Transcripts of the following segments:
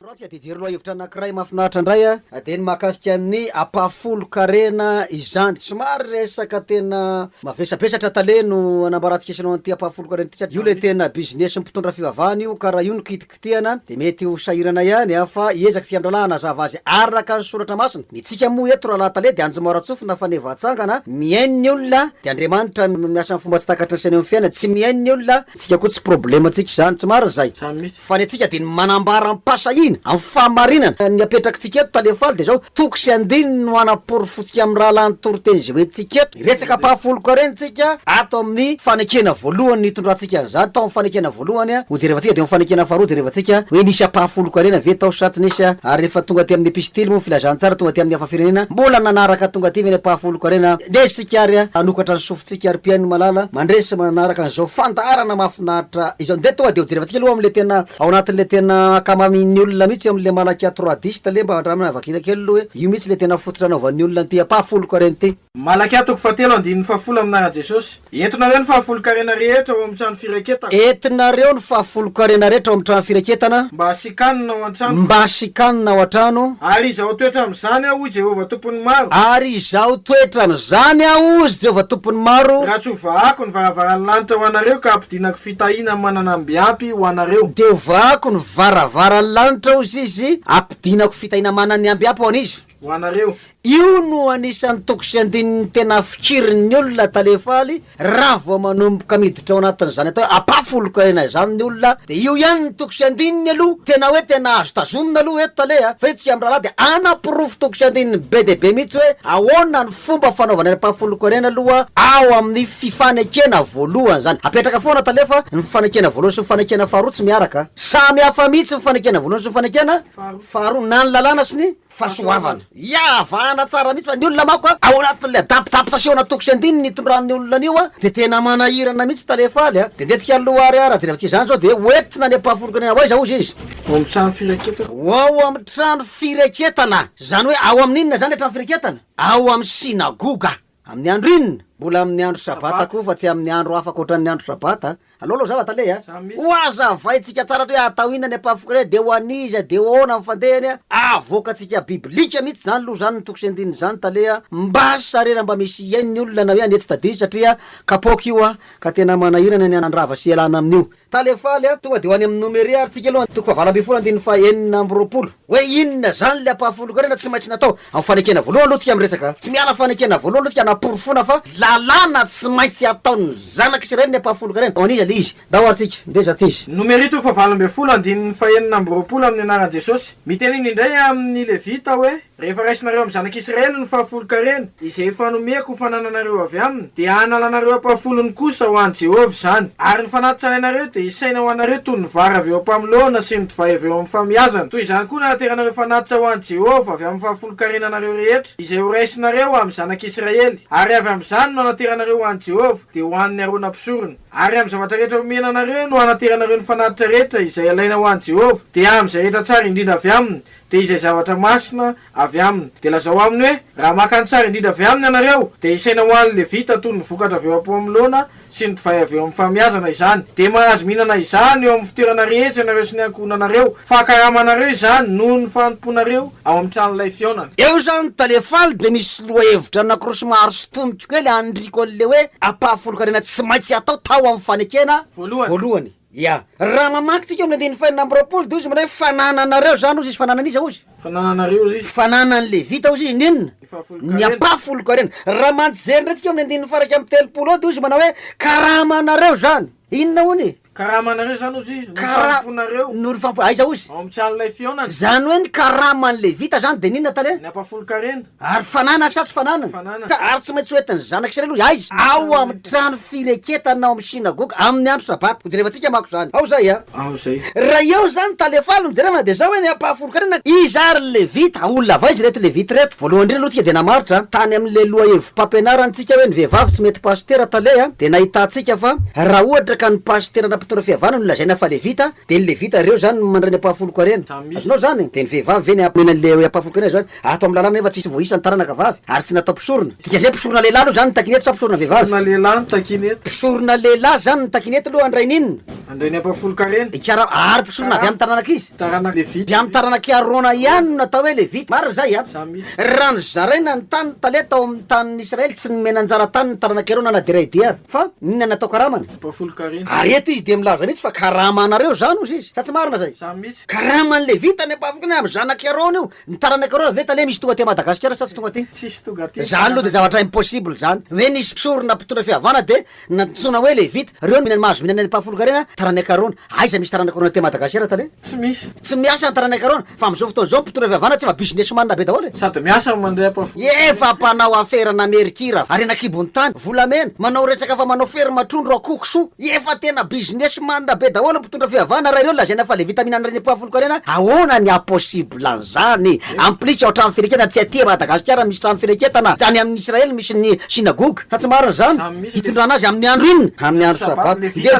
Raha tsy adijery lohahevitra anankiray mahafinaritra indray dia ny mahakasika ny ampahafolon-karena izany. Somary resaka tena mavesabesatra tale no anambarantsika isanao an'ity ampahafolon-karena ity satria io ilay tena business-n'ny mpitondra fivavahana io ka raha io no kitikitihana dia mety ho sahirana ihany fa hiezaka isika mirahalahy hanazava azy araka ny soratra masina. Ny antsika moa eto rahalahy tale dia anjomara tsofina faneva atsangana, mihaino ny olona dia Andriamanitra no miasa amin'ny fomba tsy takatry ny saina eo amin'ny fiainana, tsy mihaino ny olona, antsika koa tsy problème antsika izany. Tsy marina izay? Fa ny antsika dia ny manambara am-pahasahiana, amin'ny fahamarinana, ny apetrakitsika eto Tale Faly dia izao, toko sy andininy no hanaporofotsika amin'ny rahalahy ny toriteny izay hoentintsika eto, hiresaka ampahafolon-karena isika ato amin'ny fanekena voalohany nitondrantsika an'izany tao amin'ny fanekena voalohany, ho jerevantsika dia ho fanekena faharoa jerevantsika hoe nisy ampahafolon-karena ve tao sa tsy nisy, ary rehefa tonga aty amin'ny epistily moa filazantsara tonga aty amin'ny hafa firenena mbola nanaraka tonga aty ve ny ampahafolon-karena, dia isika ary hanokatra ny Tsikaripihain'i Malala mandresy manaraka an'izao fandaharana mahafinaritra izao. Ndeha tonga dia ho jerevantsika aloha amin'ilay tena ao anatin'ilay tena ankamamin'ny olona mihitsy amin'ilay Malakia trois dix tale mba handramana vakina kely aloha hoe io mihitsy ilay tena fototra anaovan'ny olona an'ity ampahafolon-karena ity. Malakia toko fahatelo andininy fahafolo Amin'Anaran'i Jesosy, entinareo ny fahafolon-karena rehetra ao amin'ny trano firaketako. Entinareo ny fahafolon-karena rehetra ao amin'ny trano firaketana. Mba. kanina ao an-trano. Mba asy kanina ao an-trano. Ary izaho toetra amin'izany aho, hoy Jehovah Tompon'ny Maro. Ary izaho toetra amin'izany aho, hozy Jehovah Tompon'ny Maro. Raha tsy hovahako ny varavaran'ny lanitra ho anareo ka hampidinako fitahiana mananamby ampy ho anareo. Dia hovahako ny varavaran'ny lanitra, hozy Izy, hampidinako fitahiana mananamby ampy ho an'izy. ho anareo. Io no anisan'ny toko sy andininy tena fikirin'ny olona tale faly raha vao manomboka miditra ao anatin'izany atao hoe ampafoloka aina izany ny olona dia io ihany ny toko sy andininy aloha tena hoe tena azo tazomina aloha eto tale a! fa io tsy amin'ny rahalahy dia anaporofo toko sy andininy be dia be mihitsy hoe ahoana ny fomba fanaovana ny ampafoloka ny aina aloha ao amin'ny fifanekena voalohany izany apetraka foana tale fa ny fifanekena voalohany sy ny fifanekena faharoa tsy miaraka samy hafa mihitsy ny fifanekena voalohany sy ny fifanekena Faharoa, na ny lalàna sy ny fahasoavana. Iavahana tsara mihitsy fa ny olona manko ao anatin'ilay adabodabo sy ao anaty toko sy andininy itondran'ny olona an'io dia tena manahirana mihitsy Tale Faly a! Dia nety hialoha ary raha jerevantsika izany izao dia hoentina any am-pahafolon-karena ho aiza hozy izy? Ho amin'ny trano firaketana. Ho ao amin'ny trano firaketana! Izany hoe ao amin'ny inona izany ilay trano firaketana? Ao amin'ny sinagoga! Amin'ny andro inona? Mbola amin'ny andro Sabata koa fa tsy amin'ny andro hafa ankoatran'ny andro Sabata a! Alao aloha zava tale a! Hohazavaintsika tsara hoe atao inona ny Epafrôdita dia ho an'iza dia ahoana ny fandehany a! Avoakantsika biblika mihitsy izany aloha izany ny toko sy andininy izany tale a! Mba sarera mba misy hihaino ny olona na hoe anetsy tadidio satria kapoaka io a! Ka tena manahirana ny handrava sy hialana amin'io. Talefaly a! Tonga de ho any amin'ny nomeria ary tsika aloha, toko fahavalo ambin'ny folo andininy faha enina amby roapolo. Hoe inona zany ilay ampahafolon-karena tsy maintsy natao amin'ny fanekena voalohany aloha tsika miresaka a! Tsy miala fanekena voalohany aloha tsika hanaporofoana fa lalàna tsy maintsy ataon'ny zanak'i Israely ny ampahafolon-karena. Ho an'iza ilay izy? Ndao ary tsika ndeha izatsy izy. Nomeria toko fahavalo ambin'ny folo andininy faha enina amby roapolo amin'ny anaran'i Jesosy. Miteny indray amin'ny Levita hoe. Rehefa raisinareo amin'ny zanak'i Israely ny fahafolon-karena, izay efa nomeko ho fanananareo avy aminy, dia hanalanareo am-pahafolony kosa ho an'i Jehovah izany. Ary ny fanahy tsarainareo dia hisaina ho anareo toy ny vary avy eo am-pamoloana sy ny divay avy eo amin'ny famiazana. Toy izany koa no hanateranareo fanatitra ho an'i Jehovah avy amin'ny fahafolon-karenanareo rehetra, izay horaisinareo amin'ny zanak'i Israely. Ary avy amin'izany no hanateranareo ho an'i Jehovah, dia ho an'i Arona mpisorona. Ary amin'ny zavatra rehetra omena anareo no hanateranareo ny fanatitra rehetra izay alaina ho an'i Jehovah, dia amin'izay rehetra tsara indrindra avy aminy, dia izay zavatra masina avy aminy. Dia lazao aminy hoe, Raha maka ny tsara indrindra avy aminy ianareo, dia isaina ho an'ny Levita toy ny vokatra avy eo am-pohamoloana sy ny divay avy eo amin'ny fahamiazana izany. Dia mahazo mihinana izany eo amin'ny fitoerana rehetra ianareo sy ny ankohonanareo, fa karamanareo izany noho ny fanompoanareo ao amin'ny tranolay fihaonana. Eo izany tale faly dia misy lohahevitra anankiroa somary sotoniko kely an'ry Kolle hoe ampahafolon-karena tsy maintsy atao tao amin'ny fanekena voalohany. Ia. Raha mamaky tsika ao amin'ny andininy fahenina amby roapolo dia hozy indray hoe, Fanananareo izany hozy izy, fananan'iza hozy? Fanananareo hozy izy. Fananan'ny Levita hozy izy, ny inona? Ny fahafolon-karena. Ny ampahafolon-karena. Raha manjery indray tsika ao amin'ny andininy faha-iraika amby telopolo ao dia hozy manao hoe, Karamanareo izany. Inona hono? Karamanareo izany hozy izy, norifamponareo. Norifampo, aiza hozy? Ao amin'ny tsy an'ilay fihaonana. Izany hoe ny karaman'ny Levita izany dia ny inona tale? Ny ampahafolon-karena. Ary fanana sa tsy fanana? Ka ary tsy maintsy ho entin'ny zanak'i Israely hoy aiza? Ao amin'ny trano fireketana ao amin'ny synagoga, amin'ny andro Sabata. Hojerevantsika manko izany. Ao izay a! Ao izay. Raha eo izany tale faly no jerevana dia izao hoe ny ampahafolon-karena, iza ary ny Levita? Olona avaiza ireto Levita ireto? Voalohany indrindra aloha tsika dia namaritra tany amin'ilay lohahevi-pampianarantsika hoe ny vehivavy tsy mety pasitera tale a! dia nahitantsika fa raha ohatra ka ny pasitera na mpitondra fihavanana no lazaina fa Levita dia ny Levita ireo izany no mandray ny ampahafolon-karena. Azonao izany? Dia ny vehivavy ve ny amena an'ilay hoe ampahafolon-karena izany? Ato amin'ny lalàna anefa tsisy voaisa ny taranaka vavy ary tsy natao mpisorona. Dika izay mpisorona lehilahy aloha izany ny takiana eto sa mpisorona vehivavy? Mpisorona lehilahy ny takiana eto. Mpisorona lehilahy izany ny takiana eto aloha Andriainy inona? Andriainy Ampahafolonkarena. Ikarama, ary mpisorona avy amin'ny taranak'iza? Taranaka Levita. Avy amin'ny taranak'i Arona ihany no natao hoe Levita. Marina izay a? Za mihitsy. Raha nozaraina ny tany tale tao amin'ny tanin'ny Israely tsy nomena anjara tany ny taranak'i Arona na dia iray dia ary. Fa inona no natao karamany? Ampahafolonkarena. Ary eto izy dia milaza mihitsy fa karama anareo izany hozy izy. Sa tsy marina izay? Za mihitsy. Karaman'ny Levita ny ampahafolonkarena amin'ny zanak'i Arona io. Ny taranaka reo ve tale misy tonga aty Madagascar sa tsy tonga aty? Tsisy tonga aty. Zany lo de zavatra impossible zany. Hoe nisy mpisorona mpitondra fihavana de nantsoina hoe levita. Reo no minany mahazo minany any ampahafolonkarena taranaka arona. Aiza misy taranaka arona aty Madagascar tale? Tsy misy. Tsy miasa ny taranaka arona. Fa amzao fotoana zao mpitondra fihavana tsy efa business man be daholo e. Sady miasa no mandeha ampahafolonkarena. Efa mpanao afera namery kira, harena kibon'ny tany, volamena, manao retsaka fa manao ferme trondro, akoho, kisoa. Efa tena business man be daholo mpitondra fihavana raha ireo lazaina fa levita mihinana reny poa folokarena ahoana ny ha possible an'izany en plus ao trano fireketana tsy aty Madagasikara misy trano fireketana tany amin'ny Israel misy ny synagogue sa tsy marina izany hitondrana azy amin'ny andro inona amin'ny andro sabata dia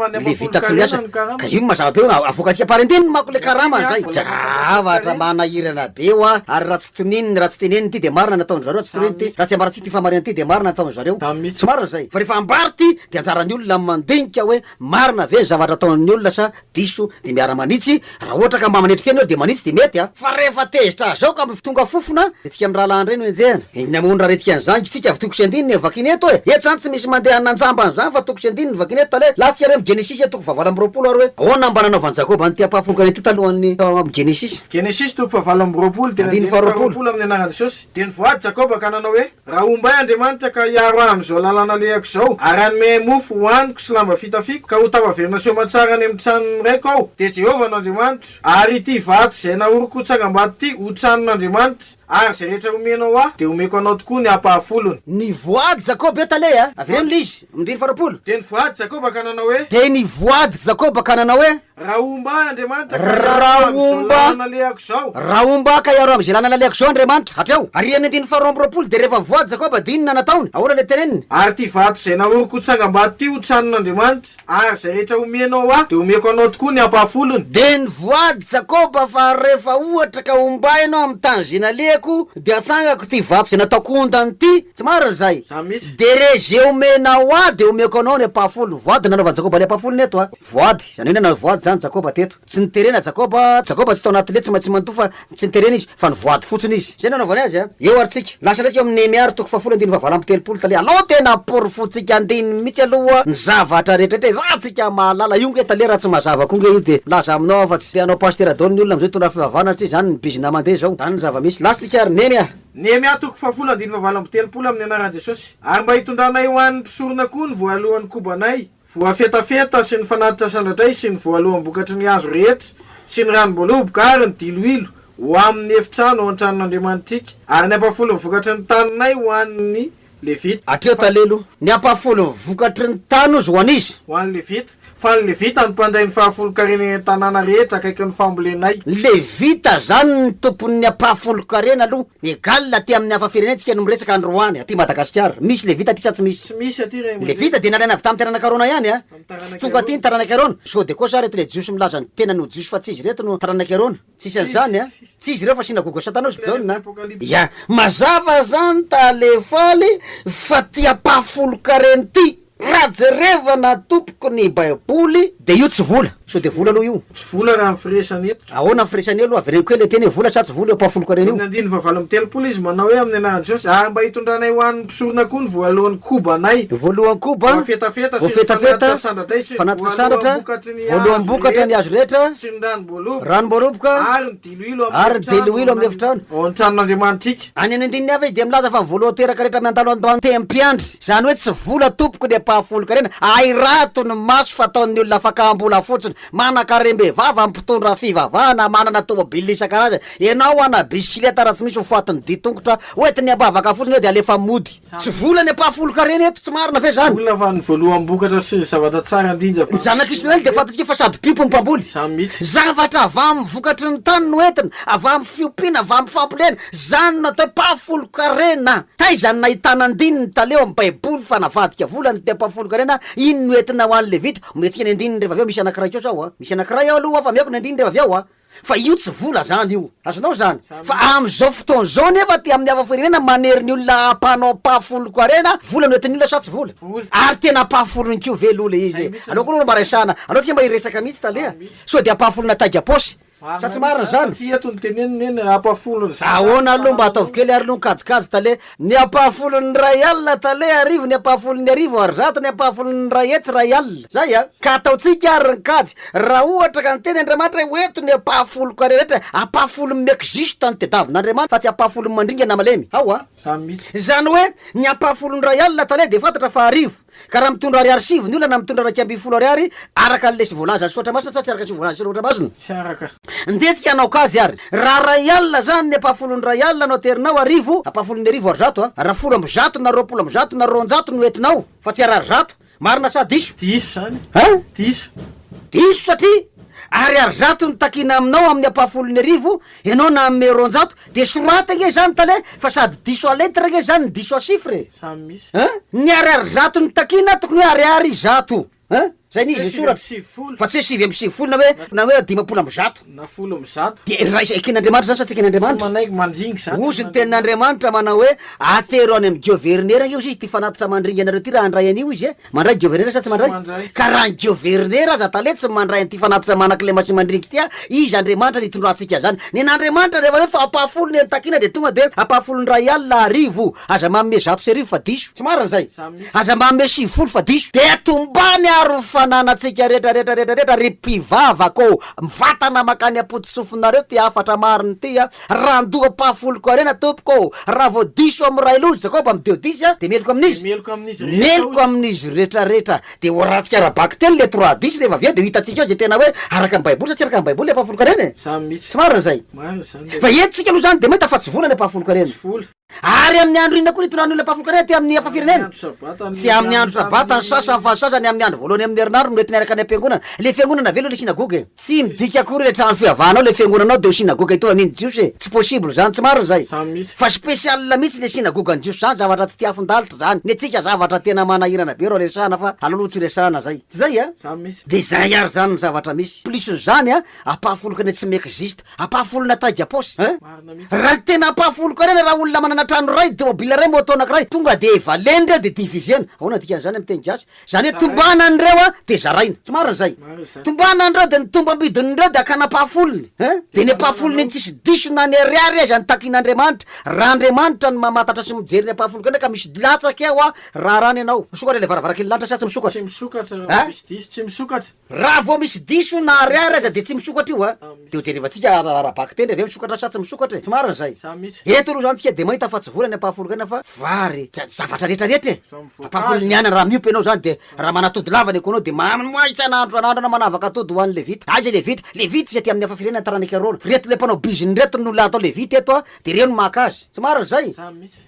levita tsy miasa ka io no mazava be hoe avoakantsika par intininy manko le karama zay zavatra manahirana be hoa ary raha Toniny ny ratsy teneniny ty de marina ny ataon-dry zareo, tsy toniny ty ratsy ambarantsika ty fa marina ty de marina ny ataon-dry zareo, tsy marina zay fa refa ambara ty de anjaran'ny olona ny mandinika hoe marina ve ny zavatra ataon'ny olona sa diso de miara manitsy, raha ohatra ka mba manetry fihaino ary de manitsy de mety a. Fa refa tezitra zao ka mif tonga fofona de tsika mirahalahy ndray no enjehana. Eny amony raha retsika an'izany ky tsika avy toko sy andininy e vakina eto e, eto zany tsy misy mandeha hanina anjamba an'izany fa toko sy andininy vakina eto tale, latsika ary eo amin'ny genesisy e toko fahavalo amby roapolo ary hoe ahoana mba nanaovan'i jakoba an'ity ampahafolokany ity talohan'ny tao amin'ny genesisy. Genesisy toko fahavalo amby roapolo dia andininy faharoapolo amin'ny anaran'i Jesosy. Dia nivoady Jakoba ka nanao hoe, Raha homba ahy Andriamanitra ka hiaro ahy amin'izao lalana alehako izao, ary hanome ahy mofo hohaniko sy lamba fitafiako, ka ho tafaverina sy homan-tsara any amin'ny tranon'ny raiko aho, dia Jehovah no Andriamanitro, ary ity vato izay nahoriko ho tsangambato ity ho tranon'Andriamanitra, ary izay rehetra homenao ahy, dia homeko anao tokoa ny ampahafolony. Nivoady Jakoba eto aleha e! Avereno ilay izy amin'ny andininy faharoapolo. Dia nivoady Jakoba ka nanao hoe. Dia nivoady Jakoba ka nanao hoe. Raha homba ahy Andriamanitra ka hiaro ahy amin'izao lalana nalehako izao. Raha homba ahy ka hiaro ahy amin'izay lalana nalehako izao Andriamanitra, hatreo. Ary amin'ny andininy faharoa amby roapolo dia rehefa voady Jakoba dia inona no nataony? Ahoana ilay teneniny? Ary ity vato izay nahoriko ho tsangambato ity ho tranon'Andriamanitra, ary izay rehetra omenao ho ahy dia homeko anao tokoa ny ampahafolony. Dia nivoady Jakoba fa rehefa ohatra ka homba ianao amin'ny tany izay nalehako dia hatsangako ity vato izay nataoko ondana ity, tsy marina izay? Dia rehefa izay omenao ahy dia homeko anao ny ampahafolony. Voady no nanaovan'i Jakoba ilay ampahafolony eto. Voady, izany hoe nanao voady izany Jakoba teto. Tsy niterena Jakoba, Jakoba tsy tao anaty lety tsy maintsy manontolo fa tsy niterena izy, fa nivoady fotsiny izy. Izay no nanaovany azy a. Eo ary tsika. Lasa ndraika eo amin'ny Nehemia ry toko fahafolo andininy fahavalo amby telopolo tale alao tena aporofointsika andininy mihitsy aloha ny zavatra rehetraretra e, raha tsika mahalala io nge tale raha tsy mazava koa nge io dia laza aminao aho fa tsy te hanao pasitera daholo ny olona amin'izao hitondra fivavahana satria izany ny bizina mandeha izao. Izany ny zava-misy. Lasa tsika ary Nehemia. Nehemia toko fahafolo andininy fahavalo amby telopolo amin'ny anaran'i Jesosy. Ary mba hitondranay ho an'ny mpisorona koa ny voalohan'ny kobanay, Voafetafeta sy ny fanatitra sandratray sy ny voaloham-bokatry ny hazo rehetra sy ny ranom-boaloboka ary ny diloilo ho amin' ny efitrano ao an-tranon' Andriamanitrika, ary ny ampahafolo ny vokatry ny taninay ho an' ny Levita. Atreha talelo, ny ampahafolo ny vokatry ny tany ozy ho an' iza? Ho an' ny Levita, fa ny Levita no mpandray ny fahafolon-karena eny an-tanàna rehetra akaikin' ny fambolenay. Ny Levita izany no tompon' ny ampahafolon-karena aloha Ny Gal aty aminy hafa firenen tsika no miresaka androany aty Madagascar misy levita aty sa tsy misy? Tsy misy aty ray aman-dreny. Levita dia nalaina avy tamin'ny taranaka Arona ihany a! Tsy tonga aty ny taranak'i Arona! Sao dia koa sa reto ilay Jiosy milaza ny tenany ho Jiosy fa tsy izy ireto no taranak'i Arona? Tsisy an'izany a! Tsy izy ireo fa synagoga Satana ao sy Jaona a! Ya! Mazava zany tale faly fa ty ampahafolon-kareny ty! Raha jerevana tompoko ny baiboly dia io tsy vola. Sao dia vola aloha io? Tsy vola raha ny firesany eto tsy vola. Ahoana ny firesany aloha? Avereno kely le teny hoe vola sa tsy vola eo ampahafoloko arireo. Amin'ny andininy fahavalo amby telopolo izy manao hoe amin'ny anaran'i Jesosy ary mba hitondranay ho an'ny mpisorona koa ny voalohan'ny kobanay. Ny voalohan'ny koba, voafetafeta, sy ny fanatitra sandratray, sy ny voalohan'ny vokatry ny hazo rehetra, sy ny ranom-boaloboka, ranom-boaloboka, ary ny. Ary ny diloilo amin'ny efitrano. Ao amin'ny tranon'Andriamanitrika. Any amin'ny andininy hafa izy dia milaza fa ny vola teraka rehetra miantalo ato an-tempiandry, izany hoe tsy vola tompoko ny ampahafolon-karena, ahirato ny maso fa ataon'ny olona fakam-bola fotsiny, manan-karem-bevava, mpitondra fivavahana, manana tomobilina isan-karazany, ianao ana bisikileta raha tsy misy ho fatin'ny dian-tongotra hoentiny ampahvaka fotsiny eo dia alefa mody. Tsy vola ny ampahafolon-karena eto, tsy marina ve zany? Olona fa ny voaloham-bokatra sy ny zavatra tsara indrindra fa. Ny zanak' Israely dia fantatsika fa sady mpiompy no mpamboly. Izany mihitsy. Zavatra avy amin' ny vokatry ny tany no entina, avy amin' ny fiompiana, avy amin' ny fambolena. Izany no atao hoe mpahafolon-karena. Taiza no nahitana andinin' ny tale ao amin' ny Baiboly fa navadika vola ny ampahafolon-karena? Iny no entina ho an' ny Levita. Ometsika ny andininy rehefa avy eo, misy anankiray kosa ao a! Misy anankiray ao aloha fa omeko ny andininy rehefa avy eo a! Fa io tsy vola zany io. Azonao zany. Fa amzao fotoana zao anefa aty amin'ny hafafirenena manery ny olona hampanao mpahafolon koarena, vola no entin'ny olona sa tsy vola? Ary tena mpahafolony ko ve loha le izy e? Anao ko loha no mba resahana, anao tsy mba hiresaka mihitsy taleha. Sao dia mpahafolona taiga apaosy? Sa tsy marina zany? Ahoana aloha mba ataovy kely ary loha ny kajikajy tale. Ny ampahafolon' ny iray alina tale arivo ny ampahafolon' ny arivo ary zato ny ampahafolon' ny iray hetsy iray alina. Izay a! Ka ataontsika ary ny kajy, raha ohatra ka niteny Andriamanitra hoe, 'Ho eto ny ampahafolonko ka rehetra, ampahafolon'ny miexiste no tedavin' Andriamanitra, fa tsy ampahafolon'ny mandringana malemy. Ao a! Izany hoe, ny ampahafolon' ny iray alina tale dia fantatra fa arivo. Ka raha mitondra ariary sivy ny olona na mitondra iraika ambin'ny folo ariary araka ny lesy voalaza sy ohatra masina sa tsy araka ny lesy voalaza sy ohatra masina? Tsy araka. Ndeha tsika hanao kajy ary. Raha iray alina izany ny ampahafolon'ny iray alina no aterinao arivo, ampahafolon'ny arivo ary zato a, raha folo amby zato na roapolo amby zato na roanjato no entinao fa tsy harary zato. Marina sa diso? Diso izany. A? Diso. Diso satria ariary zato no takiana aminao amin'ny ampahafolon'ny arivo Ianao nanome roanjato de sorata ange zany tale fa sady diso à lettre ange zany no diso à chiffre e! Zany misy. Hein? Ny ariary zato no takiana tokony hoe ariary zato hein? Zay ny izy no soratra fa tsy hoe sivy amby sivifolo na hoe na hoe dimampolo amby zato. Na folo amby zato. Dia raha izay eken'Andriamanitra zany sa tsy eken'Andriamanitra? Tsy manaiky mandringy zany. Hozy ny tenin'Andriamanitra manao hoe atero any amin'ny giovernera ange hozy izy ty fanatitra mandringy anareo ty raha handray an'io izy e! Mandray governera sa tsy mandray? Ka raha ny governera aza tale tsy mandray an'ity fanatitra manaka ilay machine mandrinka ity ah, iza Andriamanitra no hitondrantsika zany? Nen'Andriamanitra rehefa hoe fa ampahafolo ny eny takiana de tonga de ampahafolon'ny iray alina arivo, aza manome zato sy arivo fa diso, tsy marina zay? Aza manome sivifolo fa diso, de tombany ary ho fananantsika rehetra rehetra rehetra rehetra ry mpivavaka ô, mivatana makany am-pototsofina reo ty hafatra marina ity ah. Randohapahafoloko harena tompoko ô! Raha vao diso amin'ny ray loha ry Jakoba amin'ny Deodisy aho, dia meloka amin'izy, meloka amin'izy rehetrarehetra. Dia hoarantsika ara-bakiteny ilay Troadisy rehefa avy eo, dia ho hitantsika eo izay tena hoe araka ny Baiboly sa tsy araka ny Baiboly ilay apahafoloko harena e! Tsy marina izay. Fa eto isika aloha izany dia mahita fa tsy vola ilay apahafoloko harena. Ary amin'ny andro inona koa ny itondrany olona mpahafoka anay aty amin'ny hafa firenena? Tsy amin'ny andro sabata ny sasany fa ny sasany amin'ny andro voalohany amin'ny herinandro no entiny araka ny am-piangonana. Ilay fiangonana ve aloha ilay synagoga e? Tsy midika akory ilay trano fivavahanao ilay fiangonanao dia ho synagoga hitovy amin'iny jiosy e! Tsy possible izany, tsy marina izay. Fa spécial mihitsy ilay synagogan'ny jiosy izany, zavatra tsy tia afon-dalitra izany. Ny antsika zavatra tena manahirana be reo resahana fa aleo aloha tsy resahana izay. Tsy izay a? Dia izay ary izany ny zavatra misy. Plus an'izany a, ampahafoloko any Atsimo exist. Ampahafolona taiga paosy hein. Marina mihitsy. Raha ny tena ampahafoloko ary any raha olona manana trano iray, tomobile iray, moto anakiray, tonga dia valeny ireo dia diviser-na. Ahoana ny dikan'izany amin'ny teny gasy? Izany hoe tombana an'ireo an dia zaraina. Tsy marina izay. Marina izany. Tombana an'ireo dia ny tombam-bidin'ireo dia akana ampahafolony hein. Dia ny ampahafolony ny tsisy diso na ny ariary aza no takin'Andriamanitra. Raha Andriamanitra no mamantatra sy mijery ny ampahafoloko indray ka misy dilatsaka eo an, raharano ianao. Misokatra ilay varavarankely lanitra sa tsy misokatra? Tsy misokatra raha Hein? misy diso. Tsy misokatra. Raha vao misy diso na ariary aza dia tsy misokatra io a! Dia ho jerevantsika ara-bakiteny ve misokatra sa tsy misokatra e! Tsy marina izay! Eto aloha izany tsika dia mahita fa tsy vola ny ampahafolon-kaina fa vary, dia zavatra rehetra rehetra e! Ampahafolon' ny aina raha miompy ianao izany dia raha manatody lava ny ekoanao dia manoa isan'andro isan'andro ianao manavaka atody ho an'ny levita. Aiza levita? Levita izy aty amin'ny hafa firenena taranak'i Arona. Ireto ilay mpanao bizina ireto no olona atao levita eto a! Dia ireo no maka azy. Tsy marina izay!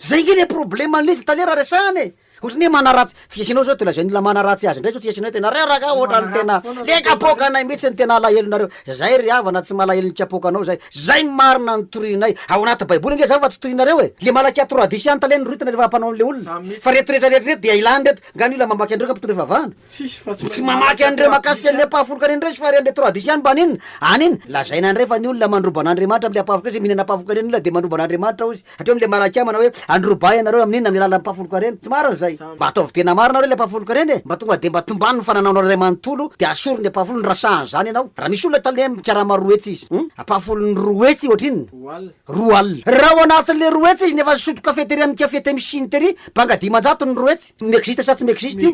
Izay ange ilay problème an'ilay izy taloha raha resahana e! Ohatry ny hoe manaratsy, tsy asianao zao de lazain'olona manaratsy azy ndray zao tsy asianao de nareo ragah ohatrany tena le kapoakanay mitsy no tena alahelo nareo, zay ry havana tsy malahelo ny kapoakanao zay, zay ny marina no torianay, ao anaty baiboly nge zany fa tsy torianareo e, le malaky ato radisy any tale ny rohitana refa mpanao anle olona, fa reto rehetra rehetra reto dia ilany reto, nga ny olona mamaky an'ireo ka mpitondra fivavahana? Tsy mamaky an'ireo makasika an'le mpahafolokany an'ireo izy fa ry an'le to radisy any mba an'inona? Any iny lazaina ndray fa ny olona mandrobana Andriamanitra amle mpahafolokany izy mihinana mpahafolokany any ny olona de mandrobana Andriamanitra ozy, Hatreo amin'ilay malaika manao hoe, Androbahy ianareo amin'inona amin'ny alalan'ny mpahafolon-karena? Tsy marina izay. Mba ataovy dia namaro nareo ilay mpahafolon-karena e! Mba tonga dia mba tombano ny fananaonao iray manontolo dia asoriny ampahafolony raha sahy an'izany ianao. Raha misy olona tale amin'ny karama roa hetsy izy. Ampahafolony roa hetsy ohatrinona? Roa alina. Raha ao anatin'ilay roa hetsy izy nefa nisotro kafe tery amin'ny café Temshin tery, banga dimanjato ny roa hetsy. Mexiste sa tsy mexiste io?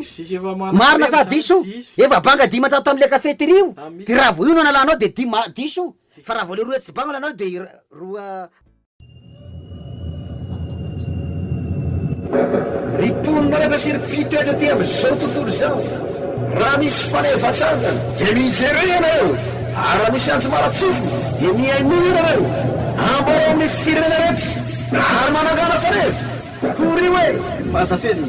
Marina sa diso? Efa banga dimanjato tamin'ilay café tery io. Dia raha vao io no analanao dia dima, diso. Fa raha vao ilay roa hetsy banga no analanao dia roa. Ry mponin'anatra sy ry mpitoetra aty amin'izao tontolo izao, raha misy fanevan-tsangany dia miverena ianareo, ary raha misy anjomara-tsofina dia mihainoa ianareo. Ambarao amin'ny firenena rehetra, ary manangana faneva. Torio e! Vaza feno.